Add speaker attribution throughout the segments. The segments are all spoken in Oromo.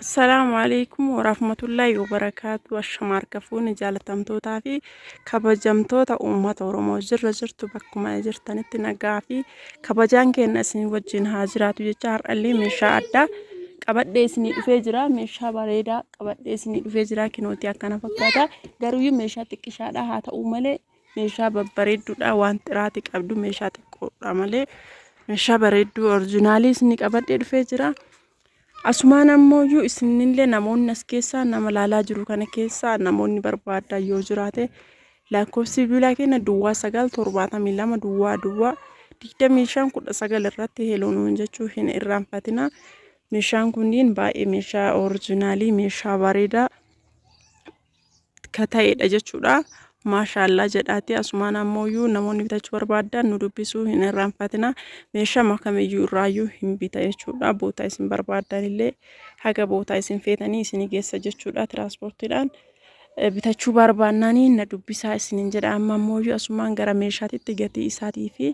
Speaker 1: Assalaamu alaikum warahmatullaahi wabarakaatu ashama harka fuuni jaalatamtootaa fi kabajamtoota uummata Oromoo jirra jirtu bakkuma jirtanitti nagaa fi kabajaan keenya isin wajjin haa jiraatu jecha har'allee meeshaa addaa qabadhee isinii dhufee jira meeshaa bareedaa qabadhee isinii dhufee jira kinooti akkana fakkaata garuuyyuu meeshaa xiqqishaadha haa ta'u malee meeshaa babbareedduudha waan xiraati qabdu meeshaa xiqqoodha malee meeshaa bareedduu orjinaalii isinni qabadhee dhufee jira. Asumaan ammoo iyyuu isinillee namoonni as keessaa nama laalaa jiru kana keessaa namoonni barbaadan yoo jiraate lakkoofsi bilbilaa keenya duwwaa sagal torbaatamii lama duwwaa duwwaa digdamii shan kudha sagal irratti heloo nuun jechuu hin irraanfatina. Meeshaan kunniin baay'ee meeshaa orjinaalii meeshaa bareedaa ka ta'edha jechuudha. Maashaallaa jedhaati asumaan ammoo namoonni bitachuu barbaadan nu dubbisuu hin irraanfatina meeshama kamiyyuu irraayyuu hin bita jechuudha bootaa isin barbaadan illee haga bootaa isin feetanii isin geessa jechuudha tiraanspoortiidhaan bitachuu barbaannaanii na dubbisaa isinin jedha amma ammoo asumaan gara meeshaatitti gatii isaatii fi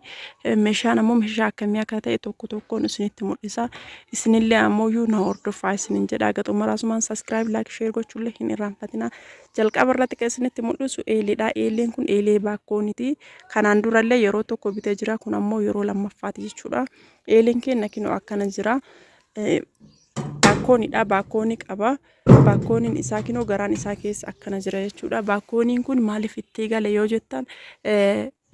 Speaker 1: meeshaan ammoo meeshaa akkamii akka ta'e tokko tokkoon isinitti mul'isa Isinillee ammoo na hordofaa isinin jedha haga xumuraa sumaan subscribe like share gochuullee hin irraanfatina. Jalqaba irratti kan isinitti mul'isu eeleedha. Eeleen kun eelee baakkooniti. Kanaan durallee yeroo tokko bitee jira. Kun ammoo yeroo lammaffaati jechuudha. Eeleen keenya kinoo akkana jira. Baakkoonidha. Baakkoonii qaba. Baakkooniin isaa kinoo garaan isaa keessa akkana jira jechuudha. Baakkooniin kun maaliif itti gale yoo jettan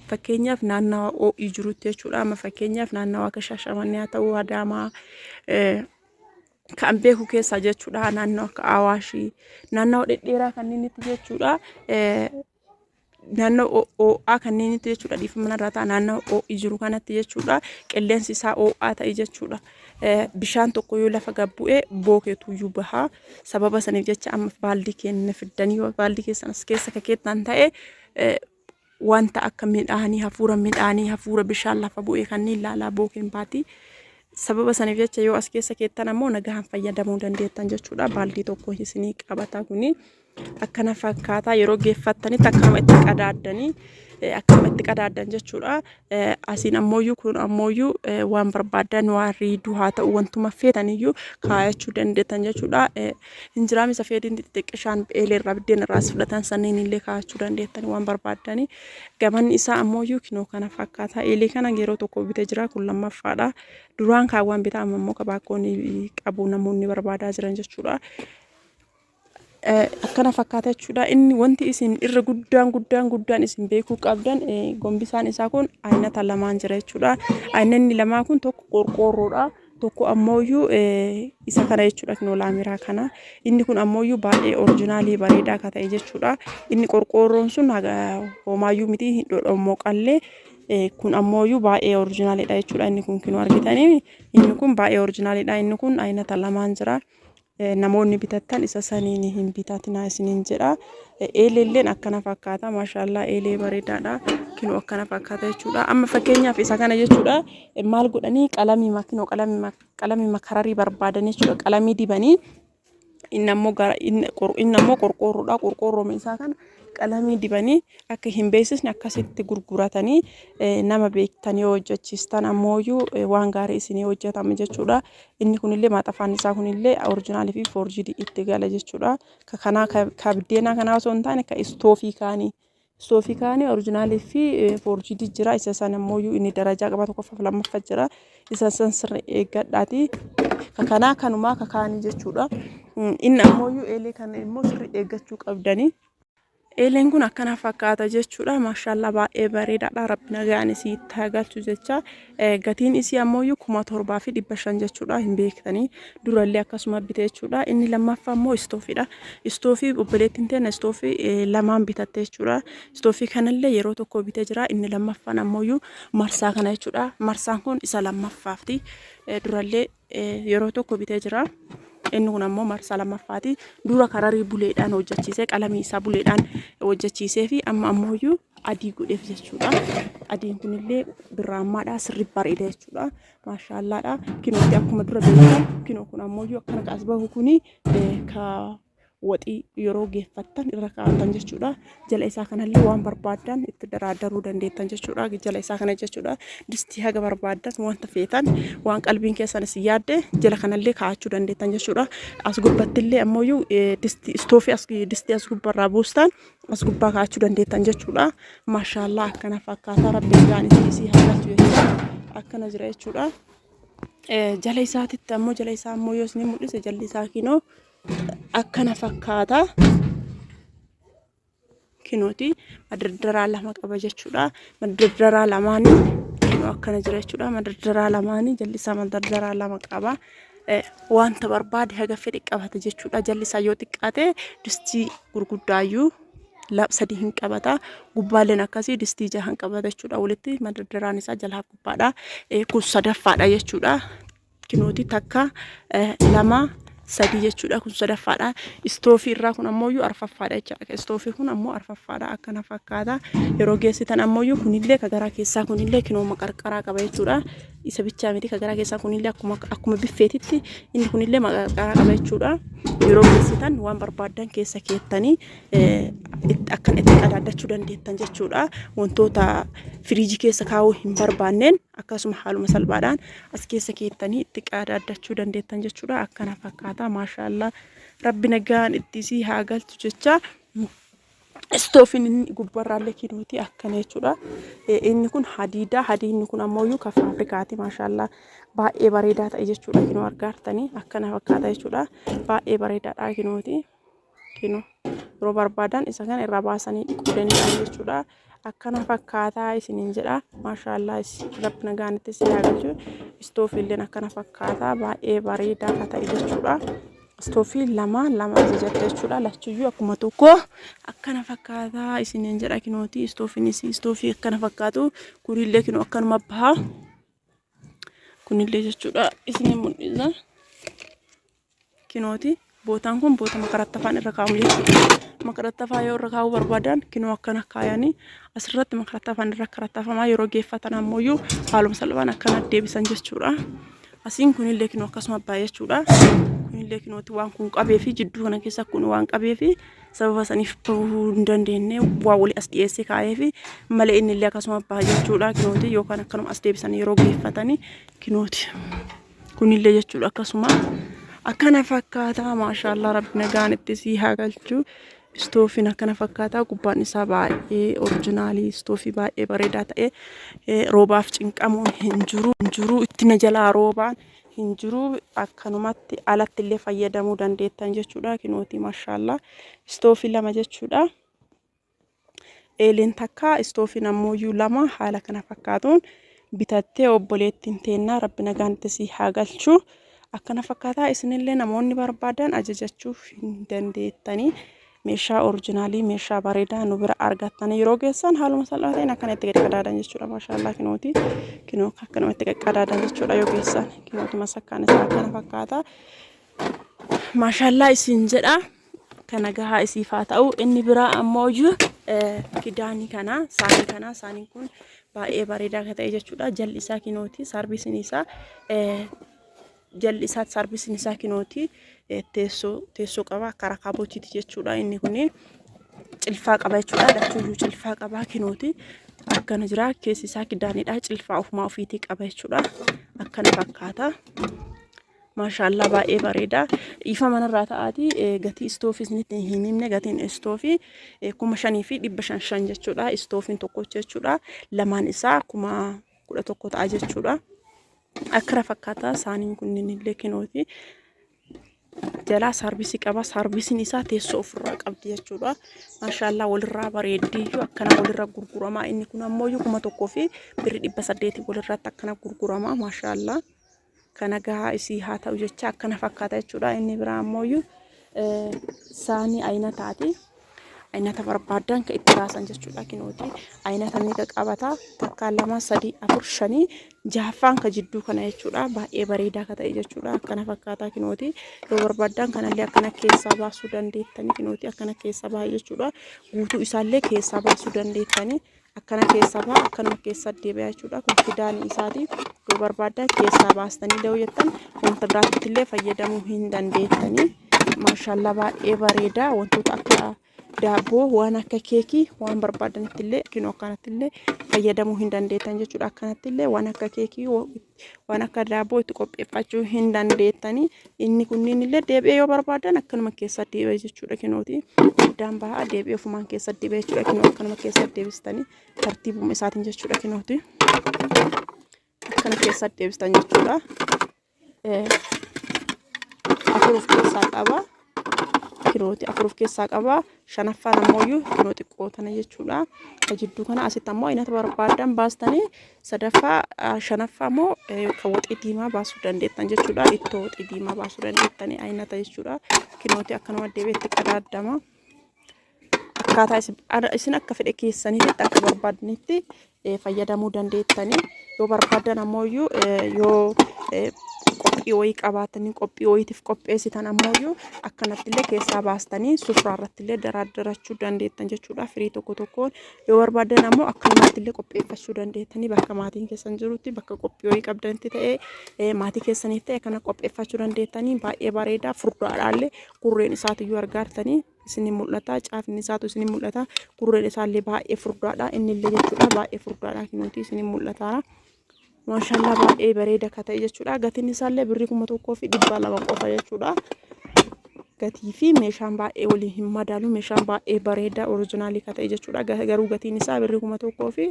Speaker 1: Fakkeenyaaf naannawa oo'ii jirutti jechuudha. Amma fakkeenyaaf naannawa akka Shaashamannee haa ta'uu Adaamaa kan beeku keessaa jechuudha. Naannoo akka Awaashii naannawa dhedheeraa kanneenitti jechuudha. Naannoo oo'aa kanneenitti jechuudha. Dhiifama manarraa ta'a naannoo oo'ii jiru kanatti jechuudha. Qilleensi isaa oo'aa ta'e jechuudha. Bishaan tokko yoo lafa gad bu'e bookeetu iyyuu baha. Sababa saniif jecha amma baaldii keenya fiddanii baaldii keessan as keessa kakeettan ta'e wanta akka midhaanii hafuura midhaanii hafuura bishaan lafa bu'ee kanneen laalaa bookeen baati. Sababa saniif jecha yoo as keessa keettan ammoo nagahaan fayyadamuu dandeettan jechuudha. Baaldii tokko isinii qabata kuni akkana fakkaata yeroo geeffattanitti akkuma itti qadaaddanii akkuma itti qadaaddan jechuudha. asiin ammooyyuu kun ammooyyuu waan barbaaddan waan riiduu haa ta'u wantuma feetaniyyuu kaayachuu dandeettan jechuudha. Injiraam isa feediin xixiqqishaan eelee irraa biddeen irraas fudhatan sanniin illee kaayachuu dandeettan waan barbaaddani. Gamanni isaa ammooyyuu kinoo kana fakkaata. Eelee kana yeroo tokko bite jira kun lammaffaadha. Duraan kaawwan bitaa amma immoo kabaakoon qabu namoonni barbaadaa jiran jechuudha. akkana fakkaata jechuudha. Inni wanti isin irra guddaan guddaan guddaan isin beekuu qabdan gombisaan isaa kun aynata lamaan jira jechuudha. Aynanni lamaa kun tokko qorqoorroodha. Tokko ammooyyuu isa kana jechuudha kinoo laamiraa kana. Inni kun ammooyyuu baay'ee orijinaalii bareedaa akka ta'e jechuudha. Inni qorqoorroon sun homaayyuu miti hin dhodhommoo qallee kun ammooyyuu baay'ee orijinaaliidha jechuudha. Inni kun kinoo argitanii inni kun baay'ee orijinaaliidha. Inni kun aynata lamaan jira. Namoonni bitattan isa saniin hin bitatinaa isiniin jedha. Eeleelleen akkana fakkaata. Maashaallah eelee bareedaadha. Kinoo akkana fakkaata jechuudha. Amma fakkeenyaaf isa kana jechuudha. Maal godhanii qalamii makinoo qalamii makararii barbaadan jechuudha. Qalamii dibanii inni ammoo gara inni qor- inni ammoo qorqoorroodha. Qorqoorrooma isaa kana qalamii dibanii akka hin beeksisne akkasitti gurguratanii eh, nama beektan yoo hojjechiistan ammooyyuu eh, waan gaarii isinii hojjetama jechuudha. Inni kunillee maaxafaan isaa kunillee orijinaalii fi foorjiidii itti gala jechuudha. Ka kanaa ka ka biddeenaa kanaa osoo hin taane ka istoofii kaanii. Istoofii kaanii orijinaalii fi eh, foorjiidii jira. Isa san ammoo iyyuu inni darajaa qaba tokkoffaa fi lammaffaa jira. Isa san sirri eeggadhaati. Ka kanaa kanumaa ka kaanii jechuudha. Mm, Inni ammoo iyyuu eelee kana immoo sirri eeggachuu qabdanii. Eeleen kun akkana fakkaata jechuudha. Maashaallah baay'ee bareedaadha. Rabbi nagaan isii itti haa galchu jecha. Gatiin isii ammoo kuma torbaa fi dhibba shan jechuudha. Hin beektanii durallee akkasuma bite jechuudha. Inni lammaffaa ammoo istoofiidha. Istoofii obboleettiin teena istoofii lamaan bitatte jechuudha. Istoofii kanallee yeroo tokko bite jira. Inni lammaffaan ammoo marsaa kana jechuudha. Marsaan kun isa lammaffaafti. Durallee yeroo tokko bitee jira. Inni kun ammoo marsaa lammaffaati. Dura kararii buleedhaan hojjechiisee qalamii isaa buleedhaan hojjechiisee fi amma ammoo iyyuu adii godheef jechuudha. Adiin kunillee birraammaadha sirri bareeda jechuudha. Maashaallaadha. Kinooti akkuma dura beekamu kinoo kun ammoo iyyuu akkana kaas bahu kuni ka waxii yeroo geeffattan irra kaa'attan jechuudha. Jala isaa kanallee waan barbaaddan itti daraaddaruu dandeettan jechuudha. Jala isaa kana jechuudha. Distii haga barbaaddan wanta feetan waan qalbiin keessan isin yaadde jala kanallee kaa'achuu dandeettan jechuudha. As gubbattillee ammoo distii istoofii as distii as gubbarraa buustan as gubbaa kaa'achuu dandeettan jechuudha. Maashaallaa akkana fakkaataa rabbiin gahaan isin isii haalatu jechuudha. Akkana jira jechuudha. Jala isaatitti ammoo jala isaa ammoo yoo isin mul'ise jalli isaa kinoo akkana fakkaata. Kinooti madardaraa lama qaba jechuudha. Madardaraa lamaanii kinoo akkana jira jechuudha. Madardaraa lamaanii jallisaa madardaraa lama qaba. Wanta barbaade haga fedhe qabata jechuudha. Jallisaa yoo xiqqaate distii gurguddaayyuu sadii hin qabata. Gubbaaleen akkasii distii jahan qabata jechuudha. Walitti madardaraan isaa jalaa gubbaadha. Kun sadaffaadha jechuudha. kinooti takka lama sadii jechuudha kun sadaffaadha istoofii irraa kun ammoo iyyuu arfaffaadha jechaadha istoofii kun ammoo arfaffaadha akkana fakkaata yeroo geessitan ammoo iyyuu kunillee ka garaa keessaa kunillee kinooma qarqaraa qaba jechuudha isa bichaa miti ka garaa keessaa kunillee akkuma akkuma biffeetitti inni kunillee maqarqaraa qaba jechuudha yeroo geessitan waan barbaaddan keessa keettanii akkan itti qadaaddachuu dandeettan jechuudha wantoota firiijii keessa kaa'uu hin barbaanneen Akkasuma haaluma salphaadhaan as keessa keettanii itti qaadaaddachuu dandeettan jechuudha. Akkana fakkaata. Maashaallah rabbi nagaan itti isii haa galchu jecha istoofin inni gubbarraallee kinuuti akkana jechuudha. Inni kun hadiidaa. Hadiinni kun ammoo iyyuu kan faabirikaati. Maashaallah baay'ee bareedaa ta'e jechuudha. Kinoo argaartanii akkana fakkaata jechuudha. Baay'ee bareedaadha kinuuti. kinu yeroo barbaadan isa kana irraa baasanii dhiquu danda'an jechuudha. Akkana fakkaataa isiniin jedha. Maashaallaa rabbi nagaan itti si haagalchu. Istoofiilleen akkana fakkaataa baay'ee bareedaa akka ta'e jechuudha. Istoofii lama lama ajajatte jechuudha. Lachuyyuu akkuma tokko akkana fakkaataa isiniin jedha kinooti. Istoofiinis istoofii akkana fakkaatu. Kuniillee kinoo akkanuma baha. Kunillee jechuudha isin mul'isa. kinooti. Bootaan kun boota makarattafaan irra kaa'amu jechuudha. Makarattafaa yoo irra kaa'uu barbaadan kinoo akkana kaayanii asirratti makarattafaan irra karattafamaa yeroo geeffatan ammoo haaluma salphaan akkana deebisan jechuudha. Asiin kunillee kinoo akkasuma abbaa jechuudha. Kunillee kinooti waan kun qabee fi jidduu kana keessa kun waan qabee fi sababa saniif bahuu hin dandeenye waa walii as dhiyeessee kaa'ee fi malee innillee akkasuma abbaa jechuudha. Kinooti yookaan akkanuma as deebisan yeroo geeffatanii kinooti. kunillee jechuudha akkasuma akkana fakkaataa maashaallah rabbi nagaan itti sii haa galchuu istoofiin akkana fakkaataa gubbaan isaa baay'ee orijinaalii istoofii baay'ee bareedaa ta'e roobaaf cinqamuun hin jiru hin jiru itti na jalaa roobaan hin jiru akkanumatti alatti illee fayyadamuu dandeettan jechuudha kinooti maashaallah istoofii lama jechuudha. Eeliin takka istoofiin ammooyyuu lama haala kana fakkaatuun bitattee obboleettiin teennaa rabbi nagaan itti sii haa galchu. Akkana fakkaataa isinillee namoonni barbaadan ajajachuuf hin dandeettanii meeshaa orijinaalii meeshaa bareedaa nu bira argattanii yeroo geessan haaluma salphaa ta'een akkana itti qaqqadaadan jechuudha maashaallaa kinooti kinoo akkanuma itti qaqqadaadan jechuudha yoo geessan kinooti masakkaan isaa akkana fakkaata maashaallaa isin jedha. Akka nagahaa isiif haa ta'u. Inni biraa ammoo iyyuu kidaanii kana saanii kana saaniin kun baay'ee bareedaa akka ta'e jechuudha. Jalli isaa kinooti saarbisin isaa jalli isaa saarbisin isaa kinooti teessoo teessoo qaba akka rakaabotiiti jechuudha. Inni kun cilfaa qaba jechuudha. Lachuuyyuu cilfaa qaba kinooti akkana jira keessi isaa kidaanidha cilfaa ofumaa ofiitii qaba jechuudha. Akkana fakkaata. Maashaallah baay'ee bareeda. Ifa manarraa ta'aati gatii istoofii isinitti hin himne gatiin istoofii kuma shanii fi dhibba shan shan jechuudha. Istoofiin tokkocha jechuudha. Lamaan isaa kuma kudha tokko ta'a jechuudha. Akkara fakkaata saaniin kunniin illee kinooti. Jalaa saarvisii qaba. Saarvisiin isaa teessoo ofirraa qabdi jechuudha. Maashaallah walirraa bareeddiyyuu akkana walirra gurgurama. Inni kun ammoo kuma tokkoo fi birri dhibba saddeetii walirratti akkana gurgurama. Maashaallah. Ka nagahaa isii haa ta'u jecha akkana fakkaata jechuudha. Inni biraa ammooyyuu saanii aynataati. Aynata barbaadan ka itti baasan jechuudha. Kinooti aynata meeqa qabata? Takkaa lama sadii afur shanii jahaffaan ka jidduu kana jechuudha. Baay'ee bareedaa ka ta'e jechuudha. Akkana fakkaataa kinooti yoo barbaadan kanallee akkana keessaa baasuu dandeettani. Kinooti akkana keessaa baha jechuudha. Guutuu isaallee keessaa baasuu dandeettani. akkana keessaa ba'a akkanuma keessaa deebi'aa jechuudha kun fidaani isaati yoo barbaadda keessaa baastanii da'uu jettan wanta biraatti illee fayyadamuu hin dandeettanii maashaallaa baay'ee bareeda wantoota akka daabboo waan akka keekii waan barbaadanitti illee yookiin akkanatti illee fayyadamuu hin dandeettan jechuudha akkanatti illee waan akka keekii waan akka daabboo itti qopheeffachuu hin dandeettanii inni kunniin illee deebi'ee yoo barbaadan akkanuma keessa deebi'e jechuudha kinooti addaan bahaa deebi'ee ofumaan keessa deebi'e jechuudha kinoo akkanuma keessa deebistanii tartiibuma isaatiin jechuudha kinooti akkana keessa deebistan jechuudha afur of keessaa qaba kilooti afur of keessaa qaba. Shanaffaan ammoo iyyuu kiloo xiqqoo tana jechuudha. Ka jidduu kana asitti ammoo inata barbaadan baastanii sadaffaa shanaffaa ammoo kan waxii diimaa baasuu dandeettan jechuudha. Ittoo waxii diimaa baasuu dandeettanii inata jechuudha. Kilooti akkanuma deebiitti qadaaddama. akkaataa isin akka fedhe keessanitti akka barbaadanitti fayyadamuu dandeettanii yoo barbaadan ammoo iyyuu yoo qophii wayii qabaatanii qophii wayiitiif qopheessitan ammoo iyyuu akkanattillee keessaa baastanii sufraa irrattillee daraaddarachuu dandeettan jechuudha firii tokko tokkoon yoo barbaadan ammoo akkanumattillee qopheeffachuu dandeettanii bakka maatiin keessan jirutti bakka qophii wayii qabdanitti ta'ee maatii keessaniif ta'e kana qopheeffachuu dandeettanii baay'ee bareedaa furdaadhaallee gurreen isaatiyyuu argaartanii isinii mul'ata caafni isaatu isinii mul'ata gurreen isaallee baay'ee furdaadha innillee jechuudha baay'ee furdaadha nuti isinii mul'ataara maashaallah baay'ee bareeda ka ta'e jechuudha gatiin isaallee birrii kuma tokkoo fi dhibba lama qofa jechuudha gatii fi meeshaan baay'ee waliin hin madaalu meeshaan baay'ee bareeda orijinaalii ka ta'e jechuudha garuu gatiin isaa birrii kuma tokkoo fi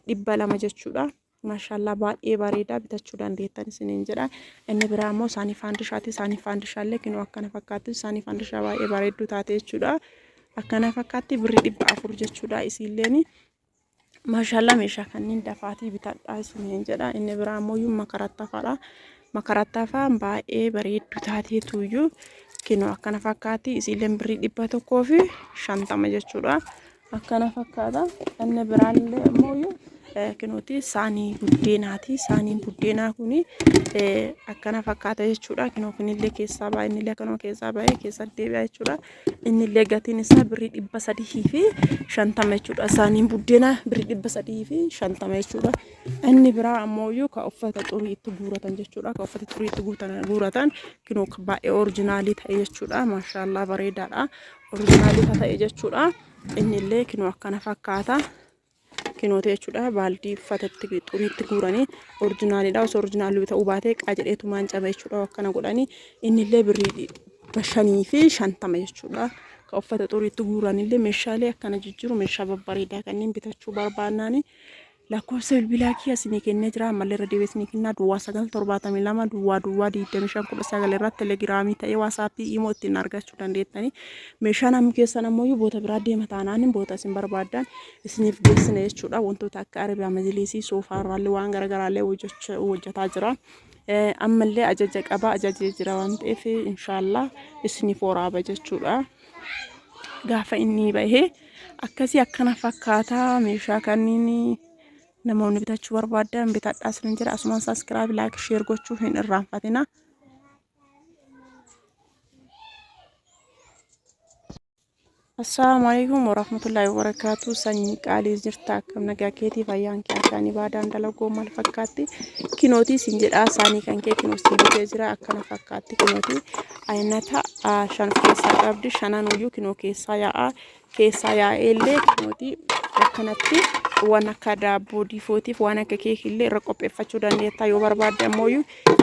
Speaker 1: dhibba lama jechuudha. Maashaallaa baay'ee bareedaa bitachuu dandeettan isiniin jedha. Inni biraa immoo saanii faandishaati. Saanii faandishaallee kinoo akkana fakkaatti. Saanii faandishaa baay'ee bareedduu taate jechuudha. Akkana fakkaatti birrii dhibba afur jechuudha isiilleen. Maashaallaa meeshaa kanneen dafaatii bitadhaa isiniin jedha. Inni biraa immoo iyyuu makarattafaadha. Makarattafaan baay'ee bareedduu taatee tuuyyuu kinoo akkana fakkaatti isiilleen birrii dhibba tokkoo fi shantama jechuudha. akkana fakkaata inni biraan illee ammoo kinuuti saanii buddeenaati saaniin buddeenaa kun akkana fakkaata jechuudha kinoo kunillee keessaa ba'a innillee akkanuma keessaa ba'ee keessa deebi'a jechuudha innillee gatiin isaa birrii dhibba sadii fi shantama jechuudha saaniin buddeenaa birrii dhibba sadii fi shantama jechuudha inni biraa ammoo iyyuu ka uffata xurii itti guuratan jechuudha ka uffata xurii itti guuratan kinoo baay'ee orjinaalii ta'e jechuudha maashaallaa bareedaadha Omishaa bifa ta'e jechuudha. Inni illee kinoo akkana fakkaata. Kinoota jechuudha baaldii uffatatti xuriitti guuranii orjinaaliidha. Osoo orjinaalii ta'uu baatee qajedhee tumaan caba jechuudha akkana godhanii inni illee birrii bashanii fi shantama jechuudha. Ka uffata xuriitti guuran illee meeshaalee akkana jijjiiru meeshaa babbareedaa kanneen bitachuu barbaannaani Lakkoofsa bilbilaa kiyya isinii kennee jira ammallee irra deebi'ee isinii kennaa duwwaa 9 72 duwwaa duwwaa 25 19 irratti telegiraamii ta'ee waasaappii imoo ittiin argachuu dandeettanii meeshaan amma keessan ammoo boota biraa deema taanaan boota isin barbaadan isiniif geessina jechuudha wantoota akka arabiyaa majiliisii soofaa irraallee waan garaagaraallee hojjetaa jira. ammallee ajaja qaba ajajee jira waan ta'eef inshaallah isiniif waraaba jechuudha gaafa inni bahee akkasii akkana fakkaata meeshaa kanniin namoonni bitachuu barbaadan bitadhaa isinin jira asumaan saaskiraayib laayik sheer gochuu hin irraanfatina. Assalaamu alaikum warahmatullahi wabarakatuh sanyii qaalii jirta akkam nagaa keetii fayyaan kee akkaan ibaadaan dalagoo maal fakkaatti kinootii siin jedhaa saanii kan kee kinoo siin jira akkana fakkaatti kinootii Aynata shan keessaa qabdi. Shananuyyuu kinoo keessaa yaa'aa. Keessaa yaa'ee illee kinooti akkanatti waan akka daabboo diifootiif waan akka keekillee irra qopheeffachuu dandeetta. Yoo barbaadde ammoo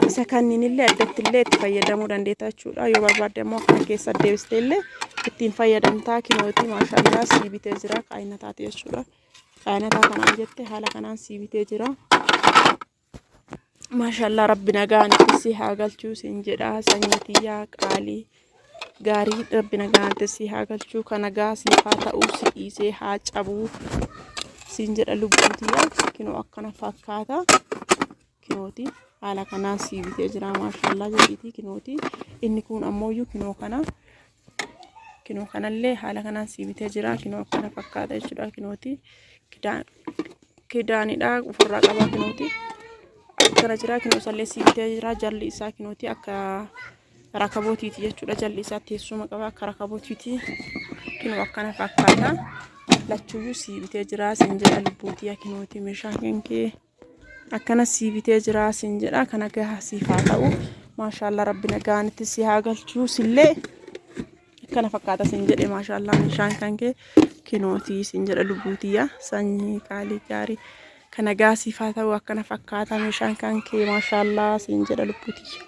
Speaker 1: isa kanniin illee addatti illee itti fayyadamuu dandeetta jechuudha. Yoo barbaadde ammoo akkana keessa deebistee illee ittiin fayyadamtaa kinooti maashaallah sii bitee jira. Aynataati jechuudha. Aynataa kanaan jette haala kanaan sii bitee jira. Maashaallah rabbi nagaan si haa galchuu siin jedha sanyii tiyyaa qaalii gaarii rabbi nagaan si haa galchuu ka nagaa siif haa ta'uu si dhiisee haa cabuu siin jedha lubbuu tiyyaa kinoo akkana fakkaata kinooti haala kanaan sii bitee jira maashaallah jedhiitii kinooti inni kun ammoo iyyuu kinoo kana Kinoo kanallee haala kanaan sii bitee jira. Kinoo akkana fakkaata jechuudha. Kinooti kidaanidha ofirraa qabaa kinooti. Akkana jira kinoo isallee sii bitee jira. Jalli isaa kinooti akka rakabootiiti jechuudha. Jalli isaa teessuma qaba akka rakabootiiti. Kinoo akkana fakkaata. Lachuyyuu sii bitee jira. Siin jedha lubbuutii kinooti meeshaa kenkee. Akkana sii bitee jiraa siin jedha kana gaha siif haa ta'u maashaallaa rabbi nagaanitti si haa galchuu sillee akkana fakkaata siin jedhe maashaallaa meeshaan kan kee kinootii siin jedha lubbuutiyya sanyii qaalii gaarii kana gaha siif haa ta'u akkana fakkaata meeshaan kan kee maashaallaa siin jedha lubbuutiyya.